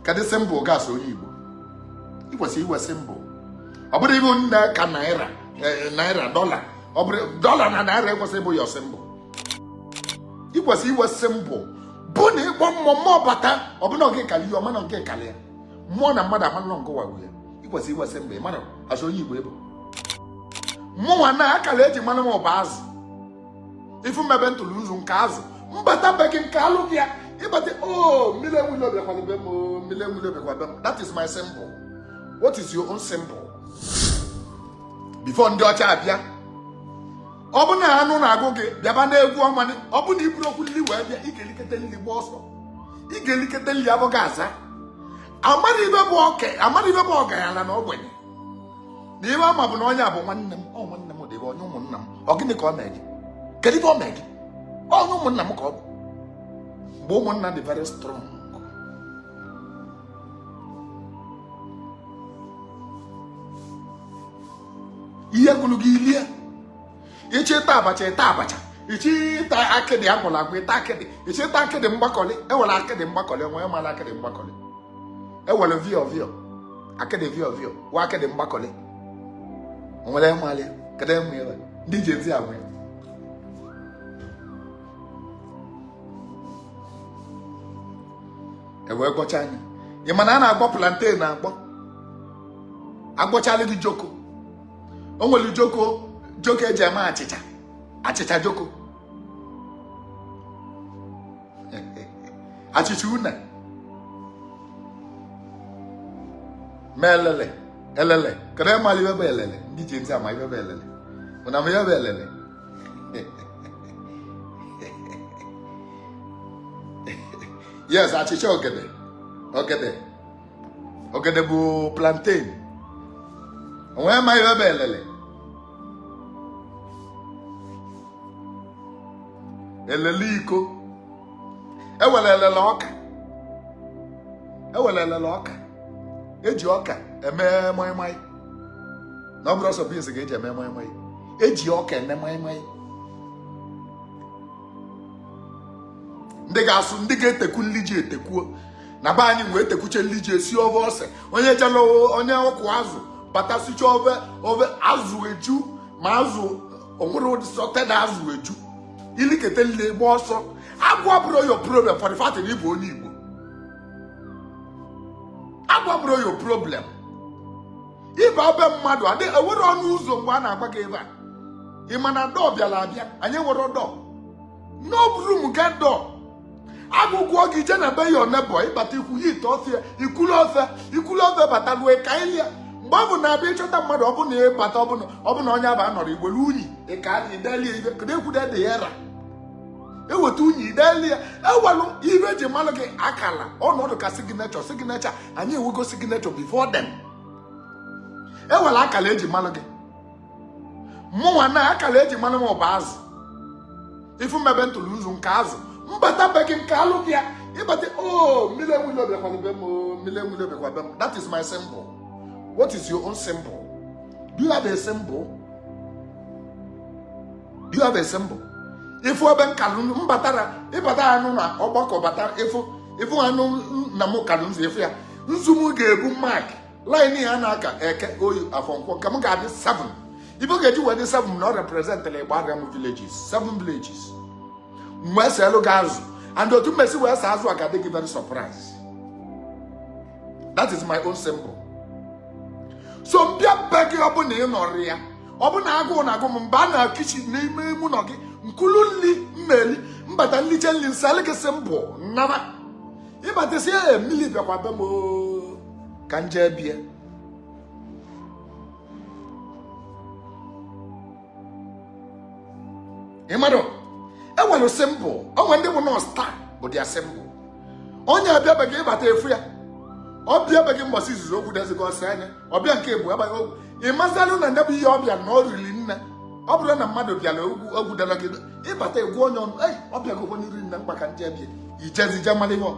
kedụ symbol gị as onye Igbo ị kwesịrị inwe symbol ọ bụrụ ibu nne ka naira eh, naira dollar ọ bụrọ dollar na naira kwesị ịbụ your symbol ị kwesịrị inwe symbol bụ na ịkpọ mmụọ mmụọ bata ọ bụ na oge kali ya ọ ma na nke kali ya mmụọ na mmadụ amanụ nke wagwu ya ị kwesịrị inwe symbol ị mara as onye Igbo ị bụ mụnwa na akara eji manụ m bụ azụ ị fụ m mebe ntụrụ nzu nke azụ m bata be gị m kaalụ gị ya ịbata o oh, mmiri enwule obiakwana be m o oh, mmiri enwule obiakwa be m that is my symbol what is your own symbol before ndị ọcha abịa ọ bụ na anụ na-agụ gị bịaba n'egwu ọnwa ọ bụ na iburu okwu nri wee bịa ị ga-elikete nri gba ọsọ ị ga-elikete nri abụghị aza amara ihe bụ ọgaranya na ogbenye na ihe a ma bụ na onye a bụ nwanne m ọ nwanne m dịbe onye ụmụnna m ọ gịnị ka ọ mee gị kedu ihe ọ mee gị onye ụmụnna m ka ọ bụ mgbe ụmụnna dị very strong ihe gụrụ gị ilie ịchọ ịta abacha ịta abacha ịchọ ịta akịdị agwọlụ agwọ ịta akịdị ịchọ ịta akịdị mgbakọlị e nwere akịdị mgbakọlị onye mara akịdị mgbakọlị e nwere vio vio akịdị vio vio wa akịdị mgbakọlị nwere mmalị kedu enwe ya ndị Gen Z agwa ya ewee gọcha anya ị ma na a na-agwọ plantain agwọ agwọchala gị joko o nwere joko joko eji eme achịcha achịcha joko achịcha une ma elele elele kedu ịma ihe bụ elele ndị Gen Z ama ihe bụ elele unu ama ihe bụ elele yes achịcha ogede ogede ogede bụ plantain onye ma ihe bụ elele elele iko e nwere elele ọka e nwere elele ọka eji ọka eme maịmaị na ọ bụrọ sọ beans ga eji eme maịmaị eji ọka eme maịmaị ndị ga-asụ ndị ga-eteku nri ji etekuo na be anyị wee tekwuche nri ji esi ofe ose onye jela onye ọkụ azụ bata sicha ofe ofe azụ eju ma azụ onwere ụdị assorted azụ eju ilikete nli gba ọsọ agụụ abụrọ your problem for the fact na ịbụ onye igbo agụụ abụrọ your problem ịba be mmadụ adị enwere ọnụ ụzọ mgbe a na-agba gị ebe a ị ma na door bịara abịa anyị enwerọ door no room get door agụụ gụọ gị je na be your neighbour ịbata ikpuye ite ofe ya ikulu ofe ikulu ofe bata lue ka ilia mgbe ọbụna ịbịa ịchọta mmadụ ọ bụ na ịbata ọ bụ na onye aba anọrọ iwelu unyi ịka anyị idelie ife kedu ekwude dị ya ra eweta unyi idelie enwelu ife eji malụ gị akala ọ nọdụ ka signature signature anyị enwego signature before them enwelu akala eji malụ gị mụnwa na akala eji malụ m ọ bụ azụ ife m mebe ntụlụ nzu nkaa azụ mbata be gị nkalụ ya ịbata o oh, mmiri enwile obiakwana be m o oh, mmiri enwe ilo bịakwa be m that is my symbol what is your own symbol do you have a symbol do you have a symbol ịfụ ebe nkalụ mbatara ịbata anọ na ọgbakọ bata ịfụ ịfụ anụ na mụ kalụ nzu ịfụ ya nzu m ga-ebu mark line ya na-aka eke oye afọ nkwọ nke m ga-adị 7 ife ọ ga-eji wee dị 7 na ọ representịrị igbariam villages 7 villages wee selụ gị azụ and otu mmesi wee see azụ a ga-adị gị very surprise that is my own symbol so mbịa be gị ọ bụ na ị nọrọ ya ọ bụ na agụụ na agụ m m baa na kitchen n'ime ime ụlọ gị nkulu nli mmeli mbata nliche nli nselụ gị symbol m naa ịbata sị ee mmiri bịakwa be m oo, ka m jee be ya ị mmadụ enwelu symbol o nwe ndị bụ na star bụ their symbol onye abịa be gị ịbata ịfụ ya ọ bịa be gị mbọsị izizi okwu dezigọ ọsị anya ọ bịa nke bụ agbaghị ogwu ị mazịalụ na ndebụ ihe ọbịa na ọ riri nne ọ bụrụ na mmadụ bịara okwu o kwudarọ gị ịbata egwu onye ọnụ ei ọ bịago onye riri nne mkpa ka m jee be ya ijezi je mara ihe ọ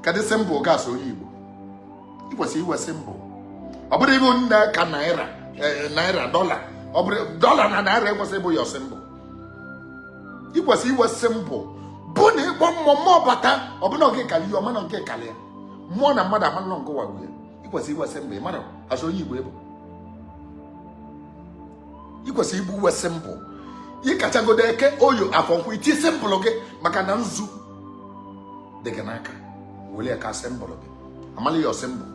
kedụ symbol gị as onye igbo ị kwesịrị inwe symbol ọ bụrọ ibu nne ka naira eh, naira dollar ọ bụrọ dollar na naira ekwesịrị ịbụ your symbol ị kwesịrị inwe symbol bụ na ịkpọ mmụọ mmụọ bata ọbụna nke kara ihe ọ ma na ngị kara ya mmụọ na mmadụ amalụ na ngị nwe ya ị kwesịrị inwe symbol ị mara as onye igbo ị bụ ị kwesịrị ibu inwe symbol ị kachagodo eke oye afọ nkwọ iti symbol gị maka na nzu dị gị n'aka were ya kaa symbol gị amalụ your symbol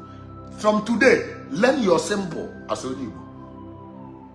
from today learn your symbol as onye igbo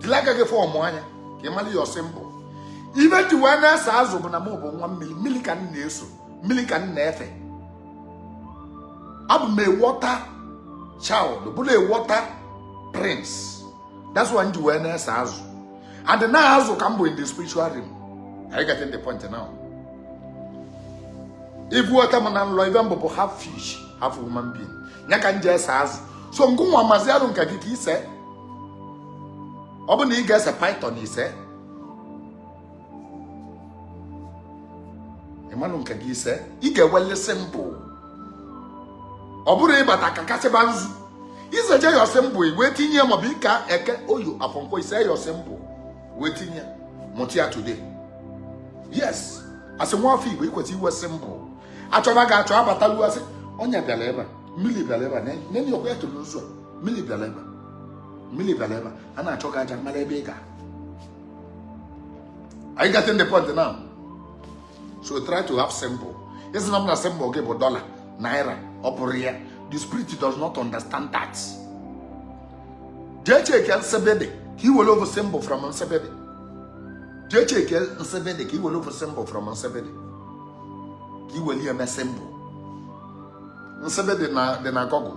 jiri aka gị form one ka ị mara your symbol ife m ji wee na-ese azụ bụ na m bụ nwa mmiri mmiri ka m na-eso mmiri ka m na-efe abụ m a water child bụrụ a water prince that's why m ji wee na-ese azụ and na azụ ka m bụ in the spiritual realm are you getting the point now ịfụta m na nlọ ife m bụ bụ half fish half human being ya ka m ji ese azụ so ngịnwa mazịalụ nke gị ka ise ọ bụ na ị ga-ese python ise ị manụ nke gị ise ị ga-ewele symbol ọ bụrụ ị bata kakasịba nzu i seje your symbol wee tinye ya maọbụ ị ka eke oye afọ nkwọ i se your symbol wee tinye mụta ya today yes as nwa afọ igbo i kwesị inwe symbol a chọba gị achọ a batalụ a sị onye bịara ebe a mmiri bịara ebe a na-enye okwu ya toro ụzọ mmiri bịara ebe mmiri bịara ebe a na-achọ gị a ja-amara ebe ị ga are you getting the point now so try to have symbol ị sịna m na symbol gị bụ dollar naira ọ bụrọ ya the spirit does not understand that jee check nsibidi ka i were ofu symbol from nsibidi jee check nsibidi ka i were ofu symbol from nsibidi ka i were ya mee symbol nsibidi dị na google